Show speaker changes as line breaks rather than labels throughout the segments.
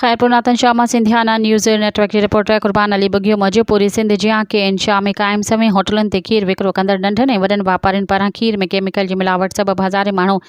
خيرپور ناتن شاهه مان Sindhiana news network جي reporter Qurban Ali Bughio موجب پوري سنڌ جيان ڪي اين شاهه ۾ قائم سوين هوٽلن تي کير وڪرو ڪندڙ ننڍن ۽ وڏن واپارين پاران کير ۾ ڪيميڪل جي ملاوٽ سبب هزارين ماڻهو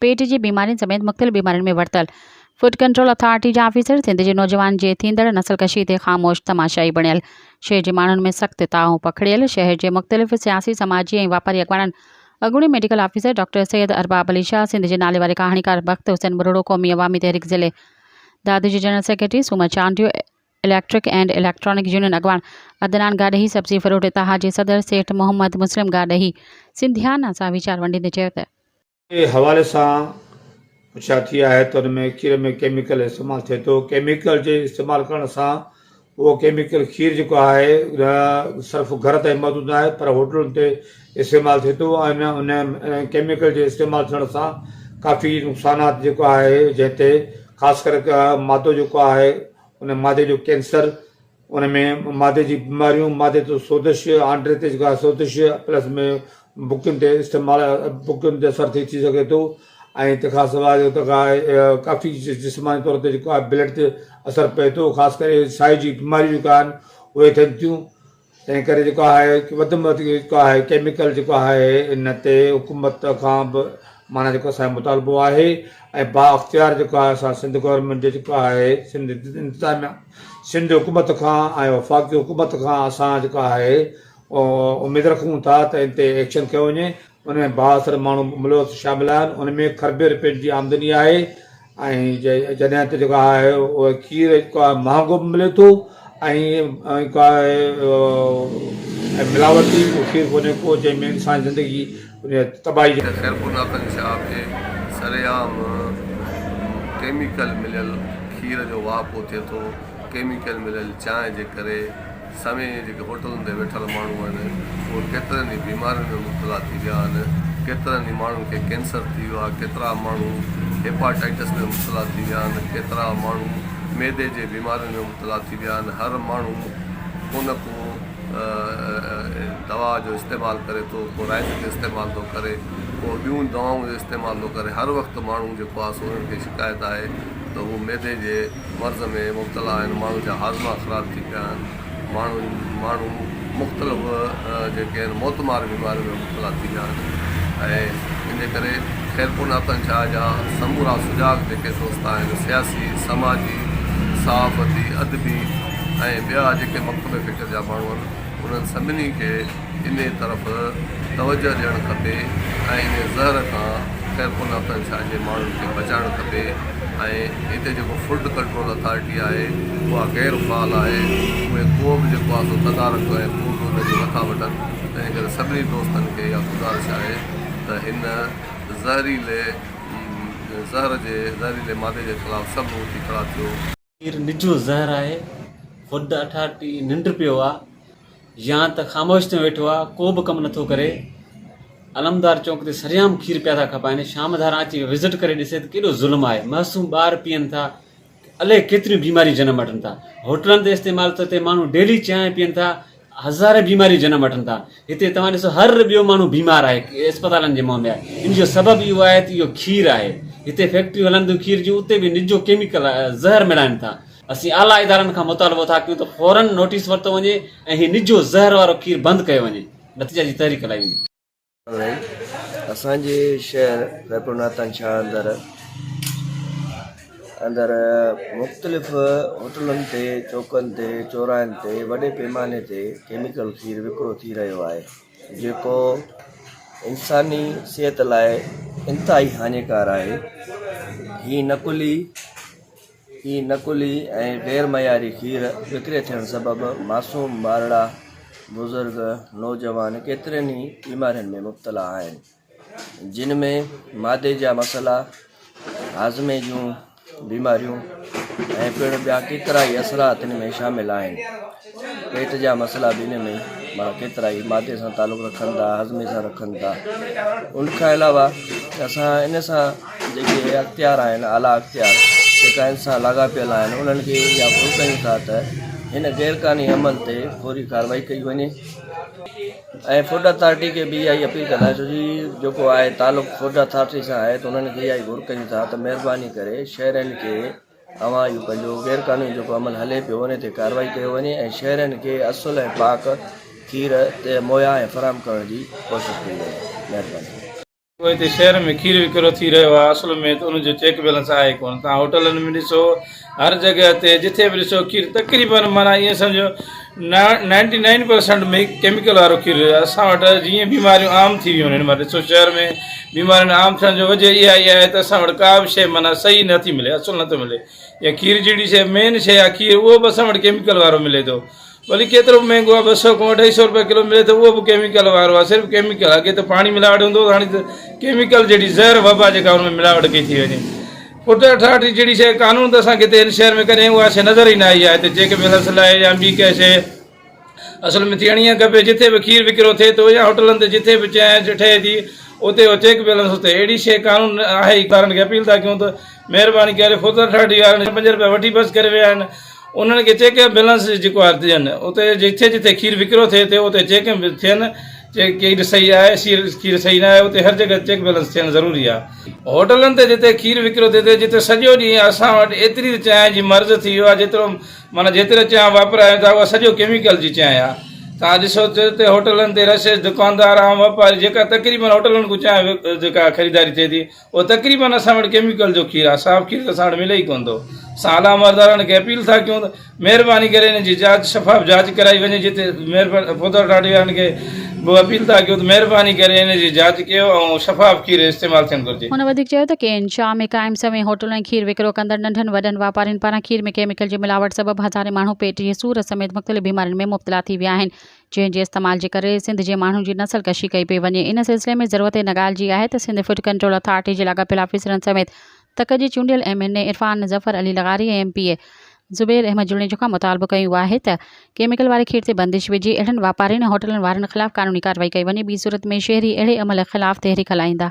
پيٽ جي بيمارين سميت مختلف بيمارين ۾ ورتل فوڊ ڪنٽرول اٿارٽي جا آفيسر سنڌ جي نوجوانن جي ٿيندڙ نسل ڪشي تي خاموش تماشائي بڻيل شهر جي ماڻهن ۾ سخت تاء پکڙيل شهر جي مختلف سياسي سماجي ۽ واپاري اڳواڻن اڳوڻي medical officer doctor Syed Arbab Ali Shah, Sindh جي ناليواري ڪهاڻيڪار بخت حسين ٻرڙو، قومي عوامي تحريڪ ضلعي دادو جي general secretary, Soomar Chandio, electric and electronic union اڳواڻ عدنان گاڏهي، سبزي فروٽ اتحاد جي صدر سيٺ محمد مسلم گاڏهي سنڌيانا سان ويچار ونڊيندي چيو ته. جي حوالي
سان پڇا ٿي آهي ته ان ۾ کير ۾ ڪيميڪل استعمال ٿئي ٿو، ڪيميڪل جي استعمال ڪرڻ سان اهو ڪيميڪل کير جيڪو آهي نه صرف گهر تائين محدود ناهي پر هوٽلن تي استعمال ٿئي ٿو ۽ ان ان ڪيميڪل جي استعمال ٿيڻ سان ڪافي نقصانات جيڪو آهي جنهن تي خاص ڪري ڪا مادو جيڪو آهي ان مادي جو ڪينسر ان ۾ مادي جي بيماريون مادي تي سوزش آنڊري تي جيڪو آهي سوزش پلس ۾ بڪين تي استعمال بڪين تي اثر ٿي ٿي سگهي ٿو ۽ تنهنکان سواء جو توکان ڪافي جسماني طور تي جيڪو آهي بلڊ تي اثر پئي ٿو خاص ڪري ساهه جي بيماريون جيڪو آهن اهي ٿين ٿيون تنهن ڪري جيڪو آهي وڌ ۾ وڌ جيڪو آهي ڪيميڪل جيڪو آهي ان تي حڪومت کان به معنيٰ جيڪو اسان جو مطالبو آهي ۽ با اختيار جيڪو آهي اسان سنڌ گورنمينٽ جو جيڪو آهي سنڌ انتظاميا سنڌ حڪومت کان ۽ وفاقي حڪومت کان اسان جيڪو آهي اميد رکون ٿا ته ان تي ايڪشن کيو وڃي ان ۾ بااثر ماڻهو ملوث شامل آهن، ان ۾ کربين رپين جي آمدني آهي ۽ جڏهن ته جيڪو آهي اهو کير جيڪو آهي مهانگو به ملي ٿو ۽ جيڪو آهي ۽ ملاوٽي اهو کير ڪونهي ڪو جنهن ۾ انساني زندگي تباهي جا. خيرپورناڪن شاپ
جي سرعام ڪيميڪل مليل کير جو واهپو ٿئي ٿو، ڪيميڪل مليل چانهه جي ڪري سوين جيڪي هوٽلن تي ويٺل ماڻهو آهن اهي ڪيترن ئي بيمارين ۾ مبتلا ٿي ويا آهن ڪيترن ئي ماڻهن کي ڪينسر ٿي ويو آهي ڪيترا ماڻهو هيپاٽائيٽس ۾ مبتلا ٿي ويا آهن ڪيترا ماڻهو معدي جي بيمارين ۾ مبتلا ٿي ويا آهن هر ماڻهو ڪو نه ڪو دوا جو استعمال ڪري ٿو ڪو رائت جو استعمال ٿو ڪري ڪو ٻيون دوائن جو استعمال ٿو ڪري هر وقت ماڻهو جيڪو آهي سو انهن کي شڪايت آهي ته هو معدي جي مرض ۾ مبتلا آهن، ماڻهن جا هاضما خراب ٿي پيا آهن، ماڻهو ماڻهو مختلف جيڪي آهن موتمار بيمارين ۾ مبتلا ٿي ويا آهن ۽ ان جي ڪري خيرپور ناتان شاهه جا سمورا سجاڳ جيڪي دوست آهن سياسي، سماجي، صحافتي، ادبي ۽ ٻيا جيڪي مڪتب فڪر جا ماڻهو آهن انهن سڀني کي انهيء طرف توجهه ڏيڻ کپي ۽ انهيء زهر کان خيرپور ناٿن شاهه جي ماڻهن کي بچائڻ کپي ۽ هتي جيڪو فلڊ ڪنٽرول اٿارٽي آهي اها غير فعال آهي اهي ڪو به جيڪو آهي سو تدارڪ ۽ ڪو به ان جي نٿا وٺن تنهن ڪري سڀني دوستن کي اها گذارش آهي ته هن زهريلي زهر جي زهريلي مادي جي خلاف سڀ اٿي کڙا ٿيو. پير نجو
زهر آهي، خود اٺاٺي ننڊ پيو آ، يا ته خاموش ٿيو ويٺو آ، ڪو به ڪم نٿو ڪري. علمدار چونڪ تي سريعام کير پيا ٿا کپائين، شام ڌاران اچي وزٽ ڪري ڏسي ته ڪيڏو ظلم آهي، معصوم ٻار پيئن ٿا، الئي ڪيتريون بيماريون جنم وٺن ٿا. هوٽلن تي استعمال ته تي ماڻهو ڊيلي چانهه پيئن ٿا، هزارين بيماريون جنم وٺن ٿا هتي توهان ڏسو هر ٻيو ماڻهو بيمار آهي اسپتالن جي منهن ۾ آهي ان جو سبب اهو آهي ته اهو کير آهي هتي فيڪٽريون هلن ٿيون کير جون اتي به نجو ڪيميڪل زهر ملائن ٿا اسين اعليٰ ادارن کان مطالبو ٿا ڪيون ته فوراً نوٽيس ورتو وڃي ۽ هي نجو زهر وارو کير بند ڪيو وڃي نتيجا جي تحريڪ هلائي وڃي. اسان جي
شهر خيرپور ناتان شاهه اندر اندر مختلف هوٽلن تي چوڪن تي چوراهن تي وڏي پيماني تي ڪيميڪل کير وڪرو ٿي رهيو آهي جيڪو انساني صحت لاء انتهائي هاڃيڪار آهي هي نقلي ئي نقلي ۽ غير معياري کير وڪري ٿيڻ سبب معصوم ٻارڙا، بزرگ، نوجوان ڪيترين ئي بيمارين ۾ مبتلا آهن جن ۾ معدي جا مسئلا، هاضمي جون بيماريون ۽ پڻ ٻيا ڪيترائي اثرا تن ۾ شامل آهن. پيٽ جا مسئلا به انهن ۾ مان ڪيترائي معدي سان تعلق رکن ٿا هاضمي سان رکن ٿا ان کان علاوه اسان ان سان جيڪي اختيار آهن اعليٰ اختيار جيڪا ان سان لاڳاپيل آهن انهن کي اها پور ڪيون ٿا ته هن غير قانوني عمل تي فوري ڪارروائي ڪئي وڃي ۽ فوڊ اٿارٽي کي به اها ئي اپيل ڪندا ڇو جي جيڪو آهي تعلق فوڊ اٿارٽي سان آهي ته انهن کي اها ئي گهر ڪيون ٿا ته مهرباني ڪري شهرين کي اوهان جو پنهنجو غير قانوني جيڪو عمل هلي پيو انهي تي ڪارروائي ڪيو وڃي ۽ شهرين کي اصل ۽ پاڪ کير مهيا ۽ فراهم ڪرڻ جي ڪوشش ڪئي وڃي مهرباني. جيڪو هتي
شهر ۾ کير وڪرو ٿي رهيو آهي اصل ۾ ته ان جو چيڪ بيلنس آهي ڪونه توهان هوٽلن ۾ ڏسو هر جڳهه تي جٿي به ڏسو کير تقريبن معنيٰ ائين سمجهو ninety nine percent make chemical وارو کير هيو اسان وٽ جيئن بيماريون عام ٿي ويون آهن مانا ڏسو شهر ۾ بيمارين عام ٿيڻ جو وجه اها ئي آهي ته اسان وٽ ڪا به شيء مانا صحيح نٿي ملي اصل نٿو ملي يا کير جهڙي شيء مين شيء آهي کير اهو به اسان وٽ ڪيميڪل وارو ملي ٿو ڀلي ڪيترو به مهنگو آهي ٻه سؤ کان اڍائي سؤ روپيا ڪلو ملي ٿو اهو به ڪيميڪل وارو آهي صرف ڪيميڪل اڳي ته پاڻي ملاوٽ هوندو هو هاڻي ته ڪيميڪل جهڙي زهر وبا جيڪا ان ۾ ملاوٽ ڪئي ٿي وڃي پٽ ٺاٺي جهڙي شيء قانون ته اسان کي هتي هن شهر ۾ ڪڏهن اها شيء نظر ئي نه آئي آهي. هتي چيڪ بيلنس لاء يا ٻي ڪنهن شيء اصل ۾ ٿيڻ ئي کپي. جتي به کير وڪرو ٿئي ٿو يا هوٽلن تي جتي به چانهه ٺهي ٿي اتي اهو چيڪ بيلنس اتي اهڙي شيء قانون ۾ آهي ئي ڪو نه. وارن کي اپيل ٿا ڪيون ته مهرباني ڪري پٽ ٺاٺي وارن جا پنج رپيا وٺي بس ڪري ويا آهن انهن کي چيڪ بيلنس جيڪو آهي ڏين. اتي جتي جتي کير وڪرو ٿئي ٿو اتي چيڪ به ٿين. چيڪ ڪيڪ صحيح آهي سيل کير صحيح نه آهي اتي هر جڳهه چيڪ بيلنس ٿيڻ ضروري آهي هوٽلن تي جتي کير وڪرو ٿئي ٿي جتي سڄو ڏينهن اسان وٽ ايتري ته چانهه جي مرض ٿي ويو آهي جيترو معنيٰ جيتري چانهه واپرايون ٿا اها سڄو ڪيميڪل جي چانهه آهي توهان ڏسو ته اتي هوٽلن تي رشيس دڪاندار عام واپاري جيڪا تقريبن هوٽلن کان چانهه جيڪا خريداري ٿئي ٿي او تقريبن اسان وٽ ڪيميڪل جو کير آ صاف کير ته اسان وٽ ملي ئي ڪون ٿو اسان اعليٰ عمردارڻ کي اپيل ٿا ڪيون ته مهرباني ڪري انهن جي جاچ شفاف جاچ ڪرائي وڃي جتي پوڌر اٿارٽي وارن کي به اپيل ٿا ڪيون ته مهرباني ڪري انهن جي جاچ ڪيو ۽ شفاف کير استعمال ٿيڻ گهرجي. هن وڌيڪ چيو ته ڪي اين
شاهه ۾ قائم سوين هوٽلون ۽ کير وڪرو ڪندڙ ننڍن وڏن واپارين پاران کير ۾ ڪيميڪل جي ملاوٽ سبب هزارين ماڻهو پيٽ جي سور سميت مختلف بيمارين ۾ مبتلا ٿي ويا آهن جنهن جي استعمال جي ڪري سنڌ جي ماڻهن جي نسل ڪشي ڪئي پئي وڃي ان سلسلي ۾ ضرورت هن ڳالهه جي آهي ته سنڌ فوڊ ڪنٽرول اٿارٽي جي لاڳاپيل آفيسرن سميت تڪ جي چونڊيل M N A Irfan Zafar Ali لغاري ۽ M P A Zubair Ahmed Junejo کان مطالبو ڪيون آهي ته ڪيميڪل واري کير تي بندش وجهي اهڙن واپارين ۽ هوٽلن وارن خلاف قانوني ڪارروائي ڪئي وڃي ٻي صورت ۾ شهري اهڙي عمل خلاف تحريڪ هلائيندا.